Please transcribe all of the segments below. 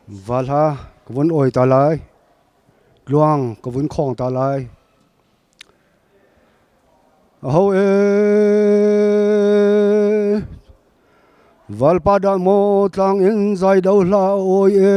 Vahla ka vun awi ta lai. Tluang ka vun khawng ta lai. Aho e Valpa dang mo tlang in zai do hla oi e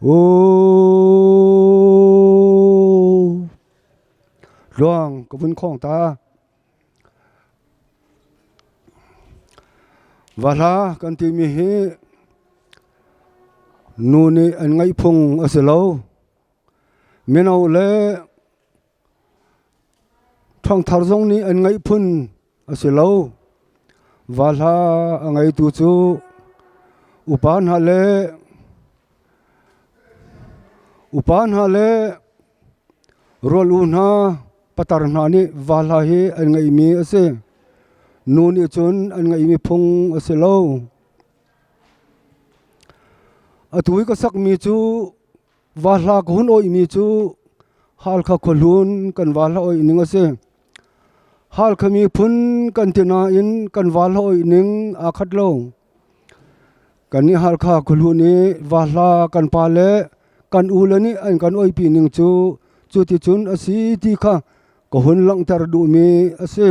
Aw, tluang ka vun khawng ta. Vahla kan timi hi nu nih an ngaih phung a si lo. Mino le Ṭhangthar zong nih an ngeih phun a si lo. Va hla a ngeitu cu upa hna le upa hna le rual-u hna patar hna nih va hla hi an ngeihmi a si. Nu nih cun an ngeihmi phung a si lo. Atu i ka sakmi cu Vahla ka hun oihmi cu Halkha khuahlun kan vahla oih ning a si. Halkha miphun kan ti nain kan vahla oih ning aa khat lo. Kan nih Halkha khuahlun i vahla kan pa le kan ule nih an kan oipi ning cu cuticun a si ti kha ka hun langhter duhmi a si.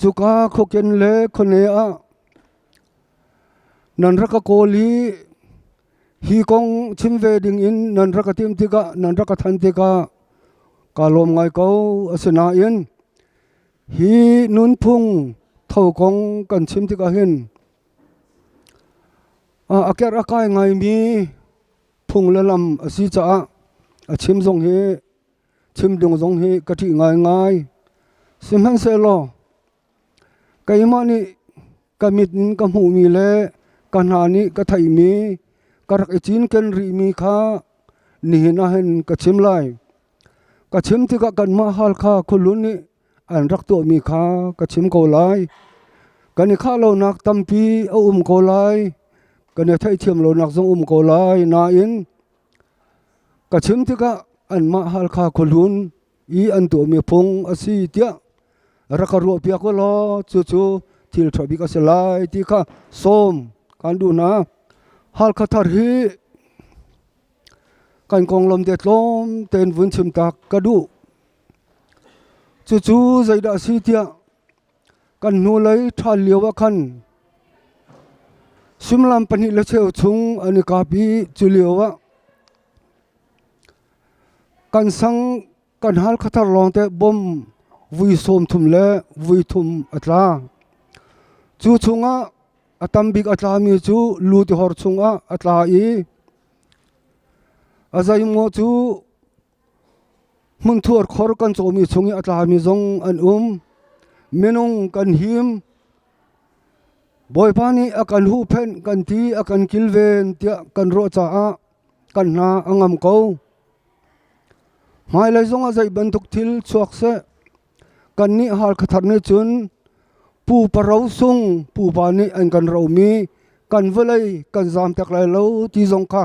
Cuka khuaken le khone ah nan rak ka kawl i hi kong chim ve dingin nan rak ka timh tikah nan rak ka thanh tikah kaa lawm ngai ko. Asinain hi nunphung tho kong kan chim tikah hin a aker a kai ngaimi phung le lam a si caah a chim zong hi chimdung zong hi ka ṭih ngaingai. Sihmanhsehlaw keimah nih ka mit in ka hmuhmi le ka hna nih ka theihmi, ka rak i cinken rihmi kha nihin ah hin ka chim lai. Ka chim tikah kanmah hal kha khuahlun nih an rak tuahmi kha ka chim ko lai. Kan i khah lonak tampi a um ko lai. Kan i theithiam lonak zong um ko lai, nain Ka chim tikah anmah Halkha khuahlun i an tuahmi phung a si tiah rak ka ruahpiak u law cucu thil ṭha bik a si lai ti kha sawm kan duh hna. Halkha thar hi kan konglam te tlawm tein vun chim tak ka duh. Cucu zeidah a si tiah Kan hnulei ṭhan lioah khan suimilam pahnih le cheu chung an i kap i culioah kan sang kan hal khathar lawngte bom vui sawm thum le vui thum a tla. Cu chungah a tambik a tlami cu lu tihor chungah a tla i a zeimngaw cu Hmungthuar khor kan cawmi chungih a tlami zong an um. Minung kan him. Bawipa nih a kan huhphenh kan ti a kan kilven tiah kan ruah caah kan hna a ngam ko. Hmailei zongah zei bantuk thil chuak seh, kannih hal khathar nih cun pu paro sung pupa nih an kan romi kan vawlei kan zaam tek lai lo ti zong kha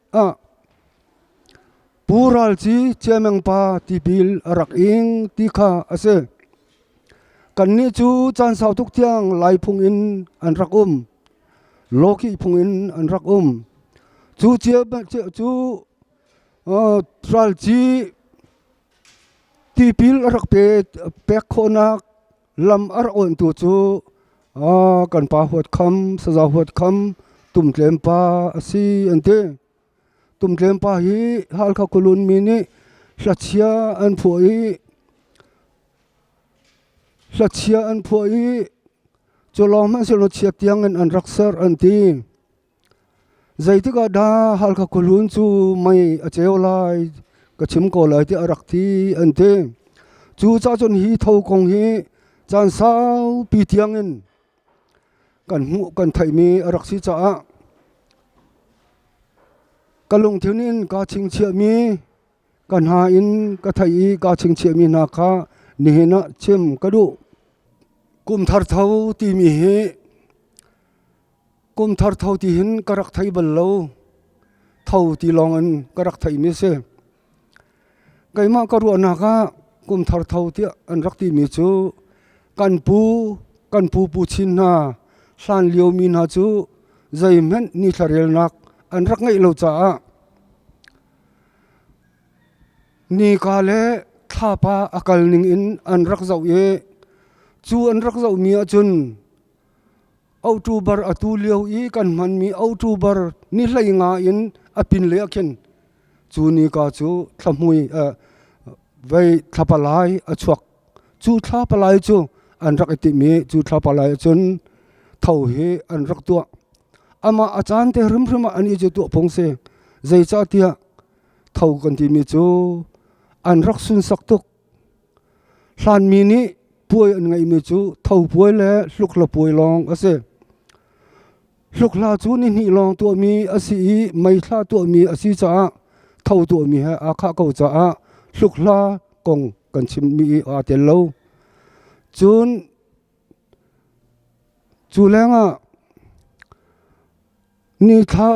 Pu Ral Ci Ciameng pa tipil a rak ing ti kha a si. Kannih cu caan sau tuk tiang lai phung in an rak um. Lawkih phung in an rak um. Cu cia cu Ral Ci tipil a rak pek khawhnak Lam a rak oanhtu cu a kan pa huat kham saza huat kham Tum Tlem pa a si an ti. Tum Tlem pa hi Halkha Kulun mi nih hlachia an phuah i hlachia an phuah i cu lawng hmanhsehlaw chia tiangin an rak ser an ti. Zeitikah dah Halkha khuahlun cu mei a ceu lai ka chim ko lai ti a rak ti an ti. Cu cahcun hi tho kong hi caan saupi tiangin kan hmuh kan theihmi a rak si caah ka lungthin in kaa chingchiahmi ka hna in ka theih i kaa chingchiahmi hna kha nihin ah chim ka duh. Kum thar tho timi hi Kum thar tho ti hin ka rak thei bal lo. Tho ti lawng in ka rak theimi si. Keimah ka ruahnak ah kum thar tho tiah an rak timi cu kan pu, kan pu pu chin hna, hlan liomi hna cu zeihmenh ni thlarelnak an rak ngeih lo caah nika le thlapa a kal ning in an rak zoh i cu an rak zohmi ahcun Otubar a tu lio i kan hmanmi otubar nihlei nga in a pin le a khin. Cu ni ka cu thlahmui eh, vei thlapalai a chuak. Cu thlapalai cu an rak i timi cu thlapalai cun tho hi an rak tuah. Ama a caan te hrimhrim ah an i cu tuah pung si. Zeicahtiah tho kan timi cu an rak sunsak tuk. Hlanmi nih puai an ngeihmi cu thopuai le hluklapuai lawng a si. Hlukhla cu nihnih lawng tuahmi a si i meithla tuahmi a si caah tho tuahmi he aa khah ko caah hlukhla kong kan chimmi i aa tel lo. Cun cu lengah ni thla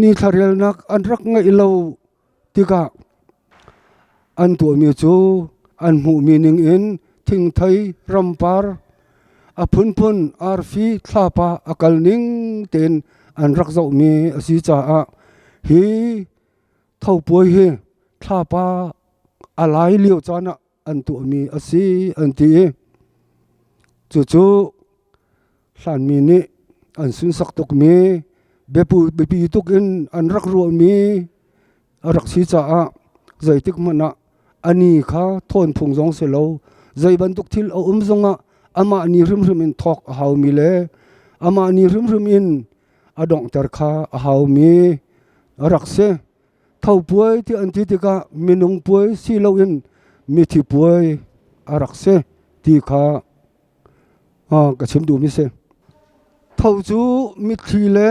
ni thlarelnak an rak ngeih lo Tikah an tuahmi cu an hmuhmi ningin thingthei rampar, a phunphun arfi thlapa a kal ning tein an rak zohmi a si caah hi thopuai hi thlapa a lai lio caan ah an tuahmi a si an ti i cucu hlanmi nih an sunsak tukmi biapu biapi tuk in an rak ruahmi a rak si caah zeitik hmanh ah a ni kha thawn phung zong si lo zei bantuk thil a um zongah amah ni hrimhrim in thawk a haumi le amah ni hrimhrim in a donghter kha a haumi a rak si Thopuai ti an ti tikah minung puai si loin mithi puai a rak si ti kha ka chim duhmi si. Tho cu mitthli le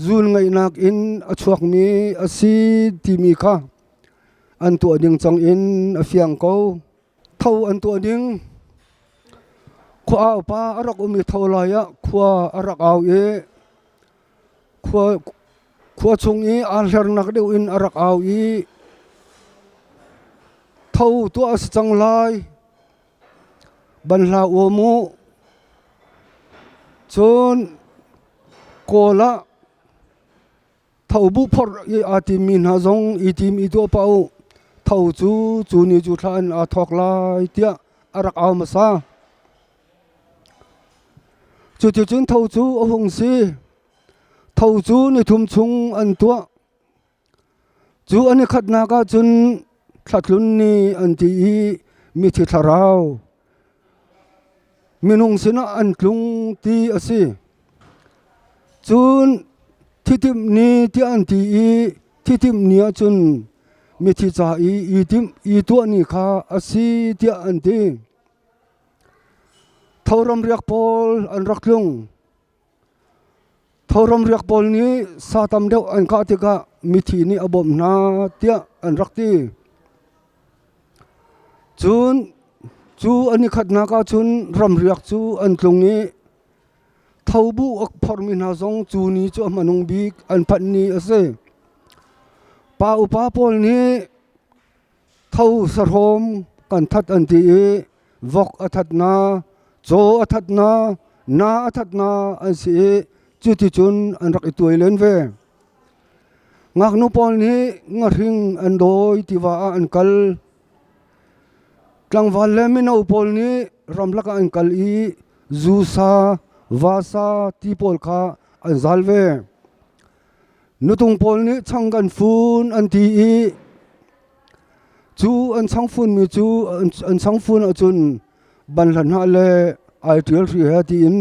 zuunngaihnak in a chuakmi a si timi kha an tuah ding cang in a fiang ko. Tho an tuah ding khua aupa a rak um i tho lai ah khua a rak au i Khua chung i aa hlernak deuh in a rak au i, Tho tuah a si cang lai, ban hlah u mu. Cun kawl ah tho bu phorh i aa timmi hna zong i tim i tuah pah u. Tho cu cu ni cu thla in aa thawk lai tiah a rak au hmasa. Cuticun tho cu a hung si. Tho cu nithum chung an tuah. Cu an i khatnak ah cun thlatlun ni an ti i mithi thlarau, minung sinah an tlung ti a si. Cun thitimh ni tiah an ti i thitimh ni ah cun mithi ca i i timh i tuah ni kha a si tiah an ti. Thoram riak pawl an rak tlung. Thoram riak pawl nih sa tam deuh an kah tikah mithi nih a bawmh hna tiah an rak ti. Cun cu an i khatnak ahcun ramriak cu an tlung i thobu a phormi hna zong cu ni cu a hmanung bik an phanh ni a si. Pa upa pawl nih tho sahrawm kan that an ti i vok a thatna caw a thatna na a thatna an si i cuticun an rak i tuai len ve ngaknu pawl nih ngahring an dawi tiva ah an kal tlangval le mino pawl nih ramlak ah an kal i zusa vasa ti pawl kha an zal ve Nutung pawl nih chang kan fun an ti i cu an chang funmi cu an chang fun ahcun ban hlan hah le ai ṭial hri he tiin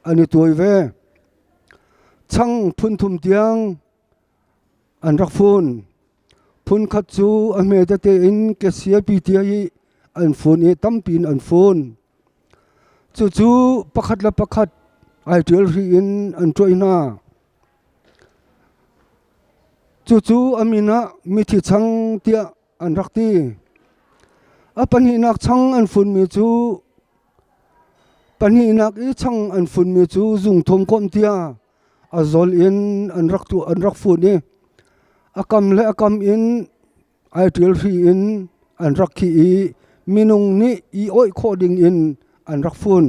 an i tuai ve. Chang phun thum tiang an rak fun. Phun khat cu a hme tete in kesiapi tia i an fun i tampi in an fun. Cucu pakhat le pakhat ai ṭial hri in an ṭuai hna. Cucu an inn ah mithi chang tiah an rak ti. A pahnihnak chang an funmi cu pahnihnak i chang an funmi cu zungthum komh tiah a zawl in an rak tuah an rak fun i a kam le a kam in ai ṭilhri in an rak khih i minung nih i oih khawh dingin an rak fun.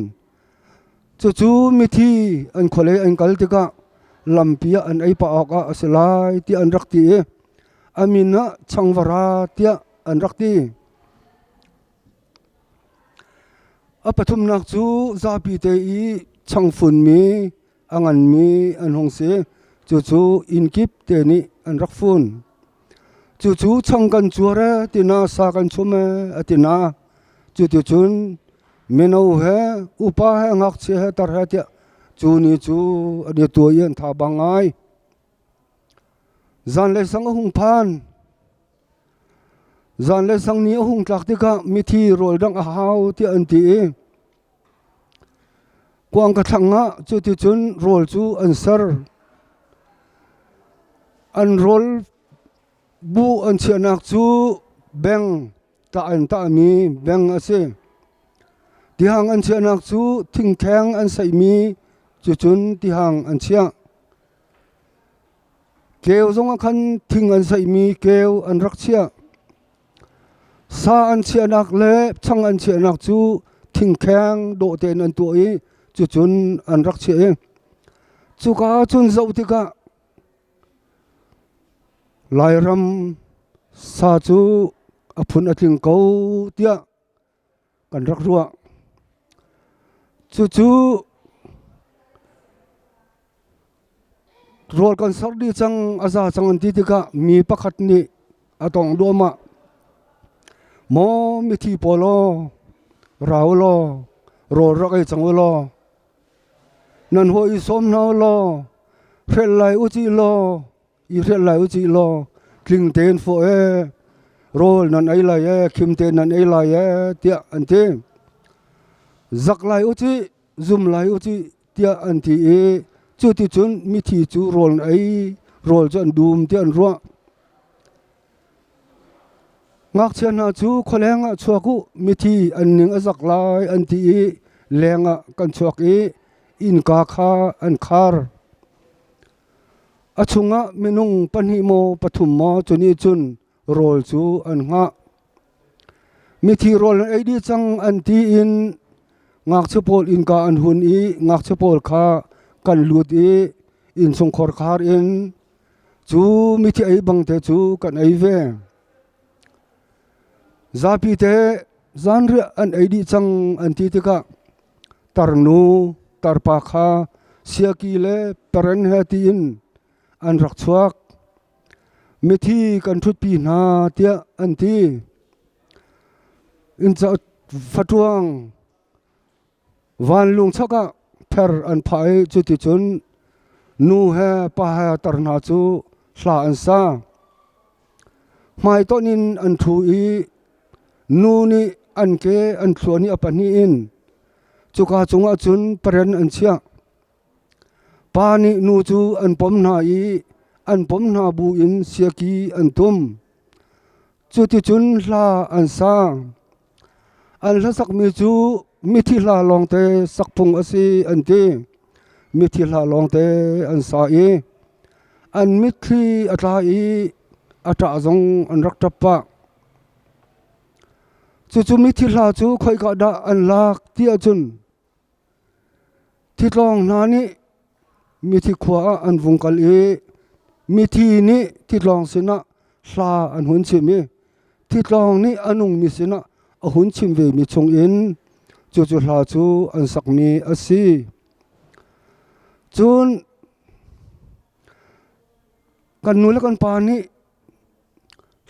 Cucu mithi an khualei an kal tikah lampi ah an ei pah awkah a si lai tiah an rak ti i a min ah changvara tiah an rak ti. A pathumnak cu zapi te i changfunmi a nganmi an hung si. Cucu inn kip te nih an rak fun. Cucu chang kan cuar e tina sa kan chum e a tina. Cuti cun mino he upa he ngakchia he tar he tiah cu ni cu an i tuai an tha bang ai. Zan le sang a hung phan. Zan le sang ni a hung tlak tikah mithi rawl dang a hau tiah an ti i Kuang ka thlang ah cuticun rawl cu an ser. An rawl bu an chiahnak cu beng tah in tahmi beng a si. Tihang an chiahnak cu thingtheng an seihmi cucun tihang an chiah. Keu zongah khan thing an seihmi keu an rak chiah. Sa an chiahnak le chang an chiahnak cu thingkheng dawh tein an tuah i cucun an rak chiah i cuka ah cun zoh tikah Lairam sa cu a phun a tling ko tiah kan rak ruah. Cucu rawl kan sar dih cang a za cang an ti tikah mi pakhat nih a tong duahmah. Maw mithi pawl aw, rau law, rawl rak ei cang u law, nan hawh i sawm hna u law, fel lai u ci law, i hrial lai u cih law tling tein fawh ee rawl nan ei lai ee khim te nan ei lai ee tiah an ti zak lai u cih zum lai u cih tiah an ti i cu ti cun mithi cu rawl an ei rawl cu an dum tiah an ruah ngakchia hna cu khualeng ah chuak u mithi an ning a zak lai an ti i leng ah kan chuak i innka kha an khar A chungah minung pahnih maw pathum maw cu nih cun rawl cu an ngah. Mithi rawl an ei dih cang an ti in ngakchia pawl innka an hun i ngakchia pawl kha kan lut i innsungkhor khar in cu mithi ei bang te cu kan ei ve. Zapite zanriah an ei dih cang an ti tikah tarnu tarpa kha siaki le paren he tiin an rak chuak. Mithi kan ṭhutpi hna tiah an ti. Inn cauk fatruang Vanlung chok ah ther an phah i cuticun nu he pa he tar hna cu hla an sa. Hmaitonh in an ṭhu i nu nih an ke an thluan i a pahnih in cuka cungah cun paren an chiah. Pa nih nu cu an pom hna i an pom hna bu in siaki an tum. Cuticun hla an sa. An hlasakmi cu mithi hla lawngte sakphung a si an ti. Mithi hla lawngte an sa i an mitthli a tla i a ṭah zong an rak ṭap pah. Cucu mithi hla cu khoika dah an lak ti ahcun Thitlawng hna nih mithi khua ah an vung kal i mithi nih thitlawng sinah hla an hun chim i thitlawng nih a nungmi sinah a hun chim vemi chungin cucu hla cu an sakmi a si. Cun kan nu le kan pa nih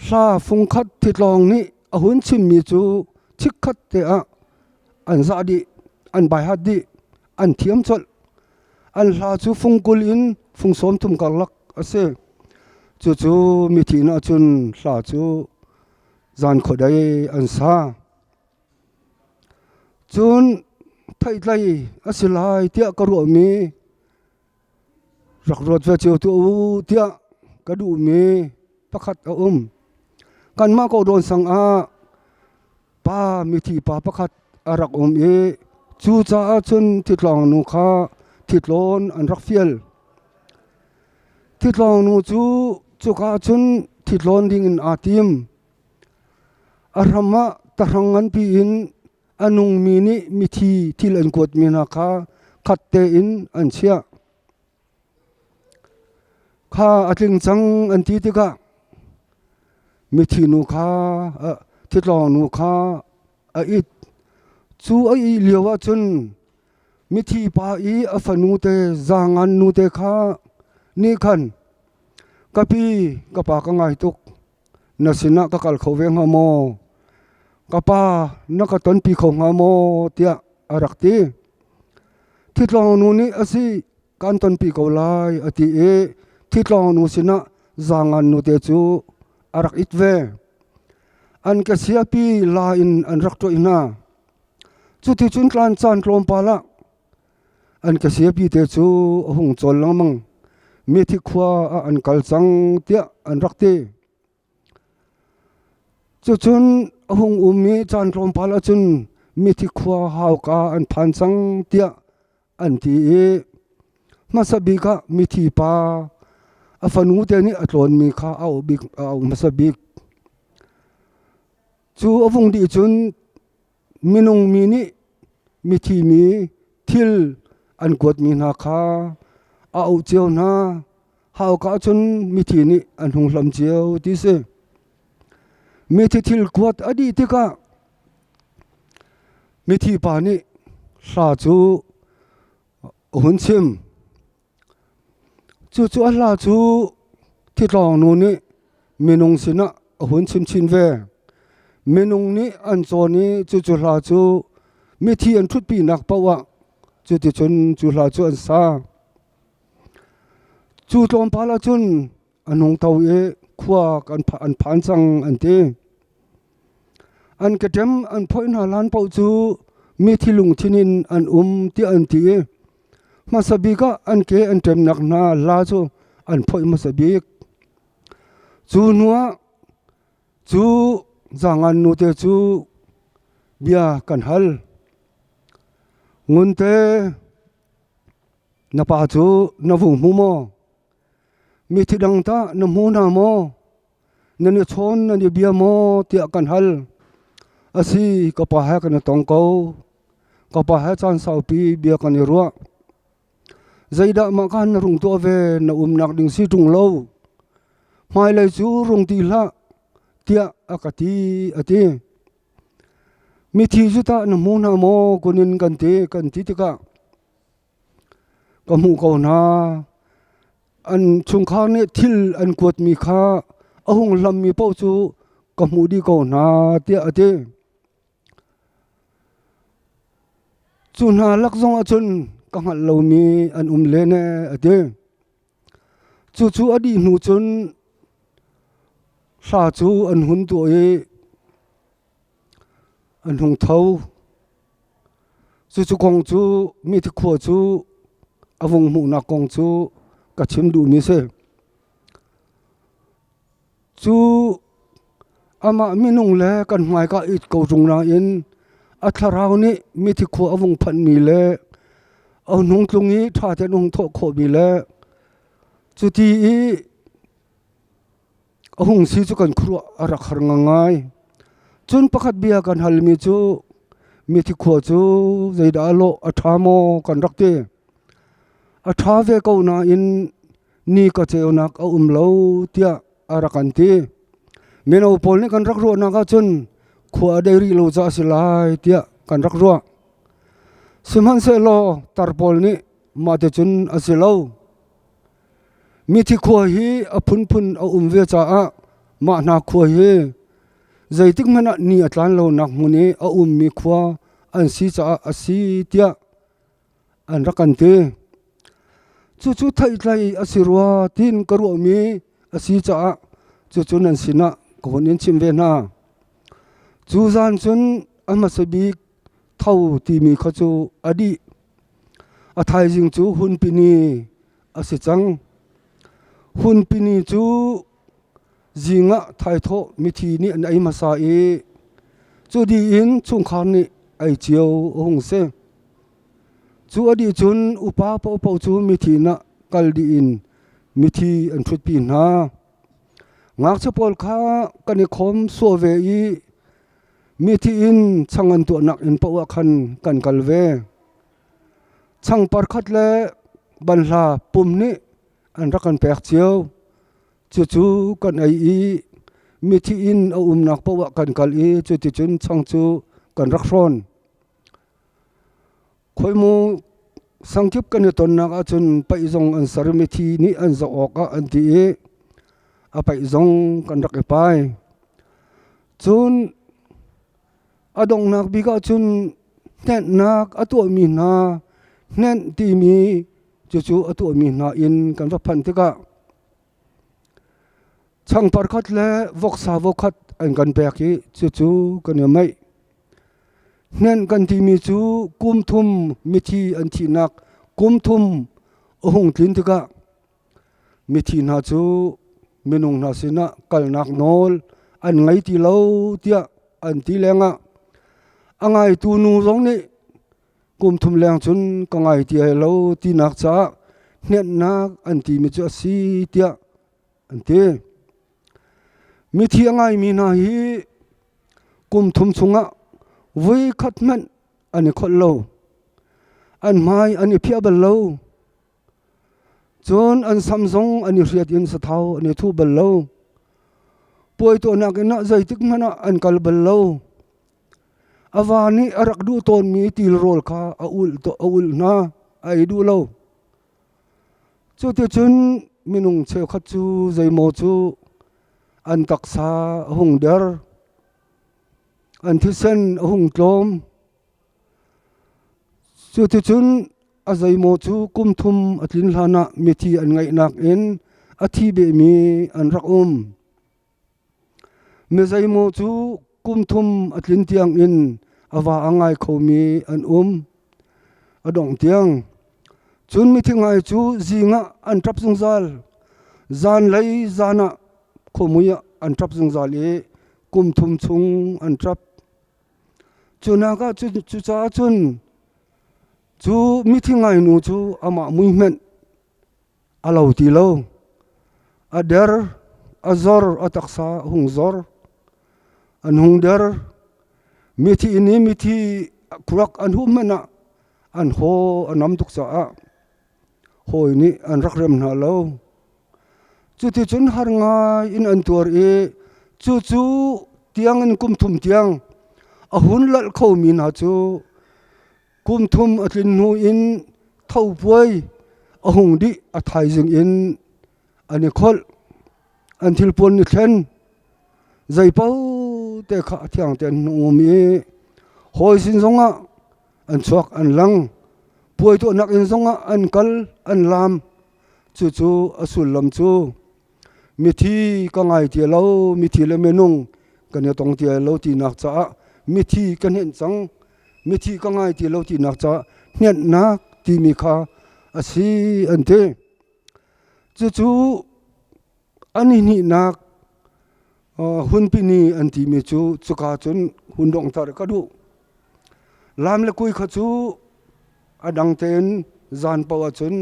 Hla fungkhat thitlawng nih a hun chimmi cu chikkhat te ah an zah dih, an baihat dih, an thiam colh. An hla cu fung kul in fung sawm thum karlak a si. Cucu mithih nih cun hla cu zan khuadei an sa. Cun theihtlei a si lai tiah ka ruahmi rak ruat ve cio tuah u tiah ka duhmi pakhat a um kanmah ko dawn sang ah pa mithi pa pakhat a rak um i cu caah cun thitlong nu kha thitlawn an rak fial thitlong nu cu cuka cun thitlawn ding in aa tim a ram ah tahrang nganpi in A nungmi nih mithi thil an kuat mi hna kha khat tein an chiah. Kha a tling cang an ti tikah mithi nu kha thitlawng nu kha a it. Cu a ih lio ah cun mithi pa i a fanu te zangan nu te kha nih khan ka pi ka pa ka ngai tuk. Na sinah ka kal kho ve hnga maw? Ka pa, na ka tonpi kho hnga maw? tiah a rak ti. Ṭhitlawngnu nih a si kan tonpi ko lai a ti i ṭhitlawngnu sinah zangan nute cu a rak it ve. An ke siapi la in an rak ṭoih hna. Cuticun tlan caan tlawmpal ah An ka siapite cu a hung cawl lengmang. Methi khua ah an kal cang tiah an rak ti. Cucun a hung um i caan tlawmpal ahcun methi khua hauka an phan cang tiah an ti i hmasa bik ah mithi pa a fanu te nih a tlawnmi kha a um bik a um hmasa bik. Cu a vung dih cun Minung mi nih mithi mi thil an kuatmi hna kha a auh cio hna. Hauka cun mithi nih an hung hlam cio ti si. Mithi thil kuat a dih tikah mithi pa nih hla cu a hun chim. Cucu a hla cu thitlawngnu nih minung sinah a hun chimchin ve. Minung nih an cawn i cucu hla cu mithi an ṭhutpinak paoh ah cuticun cu hla cu an sa. Cu tlawmpal ahcun a nung to i khua kan an phan cang an ti an ketem an phoi hna lan po cu mi thilung thinin an um ti an ti hmasa bika an ke an tem nak hna la chu an phoi hmasa bik chu nuwa chu zangan nu te chu bia kan hal ngun te na pa chu na vu mu mo Mithi dang tah na hmu hna maw? Nan i chawn nan i bia maw? tiah kan hal. A si, ka pa he kan i tong ko. Ka pa he caan saupi bia kan i ruah. Zeidah mah khan na rung tuah ve na umnak ding si ṭung lo. Hmailei cu rung ti hlah, tiah a ka ti, a ti. Mithi cu tah na hmu hna maw? kunin kan ti, kan ti tikah, Ka hmuh ko hna. An chungkhar nih thil an kuatmi kha a hung hlammi paoh cu ka hmuh dih ko hna, tiah a ti. Cu hna lak zongah cun ka hngalh lomi an um len ee, a ti. Cucu a dih hnu cun hla cu an hun tuah i a hnungtho. Cucu kong cu mithi khua cu a vung hmuhnak kong cu ka chim duhmi si. Cu amah minung le kan hmaika i ko tung nain a thlarau nih mithi khua a vung phanhmi le a hnung tlung i ṭha tein a hung thawh khawhmi le cuti i a hung si cu kan khuaruah a rak har ngai. Cun pakhat bia kan halmi cu mithi khua cu zeidah lawh a ṭha maw kan rak ti. A ṭha ve ko nain ni ka ceunak a um lo tiah a rak kan ti. Mino pawl nih kan rak ruahnak ahcun khua a dei rih lo ca a si lai tiah kan rak ruah. Sihmanhsehlaw tar pawl nih mahti cun a si lo. Mithi khua hi a phunphun a um ve caah mah hna khua hi zeitik hmanh ah ni a tlan lonak hmun i a ummi khua an si caah a si tiah an rak kan ti. Cucu theihtlei a si rua tiin ka ruahmi a si caah cucu nan sinah ka hun in chim ve hna. Cu zan cun a hmasa bik Tho timi kha cu a dih. A thaizing cu hunpini a si cang. Hunpini cu zing ah thaithawh mithi nih an ei hmasa i cu dih in chungkhar nih ei cio a hung si. Cu a dih cun upa paohpaoh cu mithin ah kal dih in mithi an ṭhutpi hna. Ngakchia pawl kha kan i khawm suau ve i Mithi in chang an tuahnak in paoh ah khan kan kal ve. Chang parkhat le banhla pum nih an rak kan pek cio. Cucu kan ei i mithi in a umnak paoh ah kan kal i cuticun chang cu kan rak hrawn. Khoimu sangkip kan i tonnak ahcun paih zong an ser mi thi nih an zoh awk ah an ti i a paih zong kan rak i pai. Cun a donghnak bik ah cun hnehnnak a tuahmi hna hnenh timi cucu a tuahmi hna in kan va phanh tikah Chang parkhat le voksa vokhat an kan pek i cucu kan i maih. Hnen kan timi cu kum thum mithi an thihnak kum thum a hung tlin tikah mithi hna cu minung hna sinah kalnak nawl an ngei ti lo tiah an ti lengah a ngaitu nu zong nih kum thum leng cun ka ngai ti ai lo tinak caah hnehnnak an timi cu a si tiah an ti. Mithi a ngaimi hna hi kum thum chungah voi khat hmanh an i kholh lo. An hmai an i phiah bal lo. Cun an sam zong an i hriat in sathau an i thu bal lo. Puai tuahnak inn ah zeitik hmanh ah an kal bal lo. A va nih a rak duh tawnmi til rawl kha a ulh a ulh hna, a ei duh lo. Cuticun minung cheukhat cu zeimaw cu an taksa a hung der. An thisen a hung tlawm. Cuticun a zeimaw cu kum thum a tlin hlanah mithi an ngeihnak in a thi vemi an rak um. Mizeimaw cu kum thum a tlin tiangin a va a ngai khomi an um. A dongh tiang, cun mithi ngai cu zingah an ṭap zungzal. Zan lei zanah khuamui ah an ṭap zungzal i kum thum chung an ṭap. Cunak ah cucaah cun cu mithi ngainu cu amah muihmenh a lo ti lo. A der, a zor, a taksa a hung zor. An hung der. Mithi in i mithi khurak an huh hmanh ah an haw a nam tuk caah. hawi nih an rak rem hna lo. Cuticun har ngai in an tuar i cucu tiangin kum thum tiang a hun lalh khomi hna cu kum thum a tlin hnu in thopuai a hung dih a thaizing in an i kholh. An thilpuan ni thlen zeipaote kha a thiang te an hung um i hawi sin zongah an chuak an lang puai tuahnak inn zongah an kal an laam cucu a sullam cu mithi ka ngai tia lo mithi le minung kan i tong tia lo ti nak caah mithi kan henh cang mithi ka ngai ti lo ti nak caah hnenak timi kha a si an ti cucu an i hnihnak hunpini an timi cu cuka cun hun donghter ka duh laam le kui kha cu a dang tein zan paoh ahcun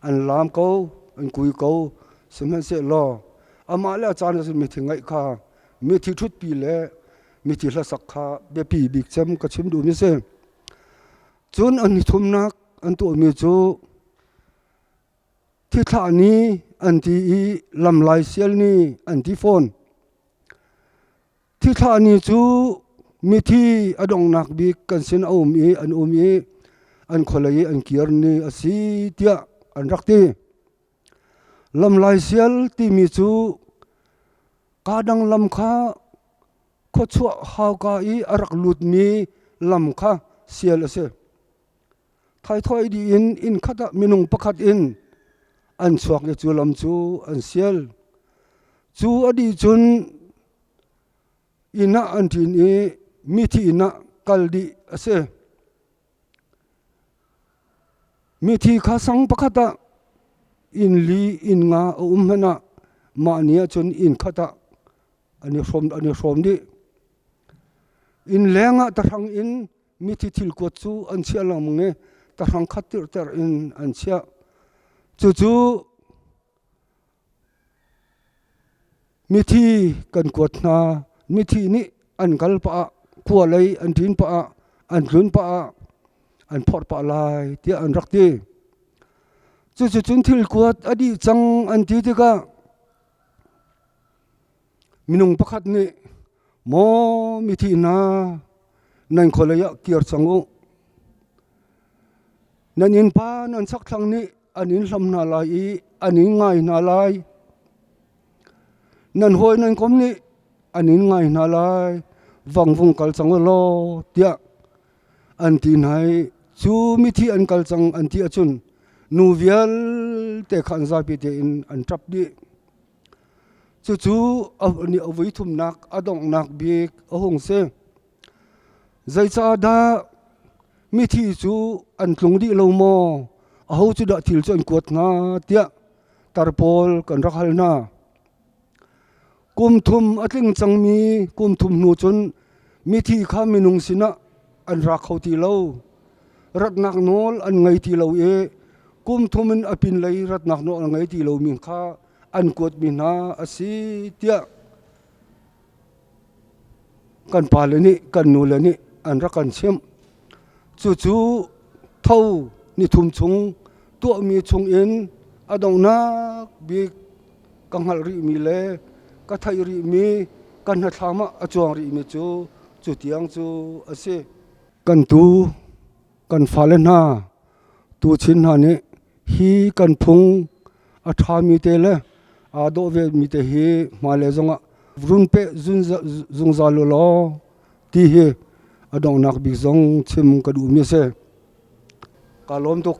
an laam ko an kui ko sihmanhsehlaw amah le a caan ahcun mithi ngaih kha mithi ṭhutpi le mithi hlasak kha biapi bik cem ka chim duhmi si cun an i thumnak an tuahmi cu Thithlah ni an ti i lam laisial ni an ti fawn. Thithlah ni cu mithi a donghnak bik kan sin a um i an um i an khualei i an kir ni a si tiah an rak ti. Lam laisial timi cu kaa dang lam kha khuachuah hauka i a rak lutmi lam kha sial a si. Thaithawih dih in inn khat ah minung pakhat in an chuak i cu lam cu an sial. Cu a dih cun inn ah an ṭin i mithi inn ah kal dih a si. Mithi kha sang pakhat ah inn li inn nga a um hmanh ah mah ni ah cun inn khat ah an i hrawm, an i hrawm dih. Inn leng ah tahrang in Mithi thil kuat cu an chiah lengmang i tahrang khat tirhter in an chiah. Cucu mithi kan kuat hna. Mithi nih an kal pah ah kua lei an ṭin pah ah an tlun pah ah an phorh pah lai tiah an rak ti. Cucucun thil kuat a dih cang an ti tikah Minung pakhat nih maw mithi hna nan khualei ah kir cang u. Nan innpa nan sakthlang nih an in hlam hna lai i an in ngai hna lai. Nan hawi nan kom nih an in ngai hna lai. Vang vung kal cang u law tiah an ti hna i cu mithi an kal cang an ti ahcun nu vialte kha an zapi tein an ṭap dih. Cucu nih a vuithumnak a donghnak bik a hung si. Zeicahdah mithi cu an tlung dih lo maw? Aho cu dah thil cu an kuat hnga? tiah tar pawl kan rak hal hna. Kum thum a tling cangmi kum thum hnu cun mithi kha minung sinah an ra kho ti lo. Ratnak nawl an ngei ti lo i kum thum in a pinlei ratnak nawl an ngei ti lo min kha an kuatmi hna a si tiah kan pale nih kan nule nih an rak kan chimh. Cucu tho ni thum chung tuahmi chung in a donghnak bik ka hngalh rihmi le ka theih rihmi kan hnathlam ah a cuang rihmi cu cu tiang cu a si. Kan tu, kan fale hna, tuchin hna nih hi kan phung a ṭhami te le aa dawh vemi te hi hmailei zongah runpeh zungzal law ti hi a donghnak bik zong chim ka duhmi a si. Ka lawm tuk.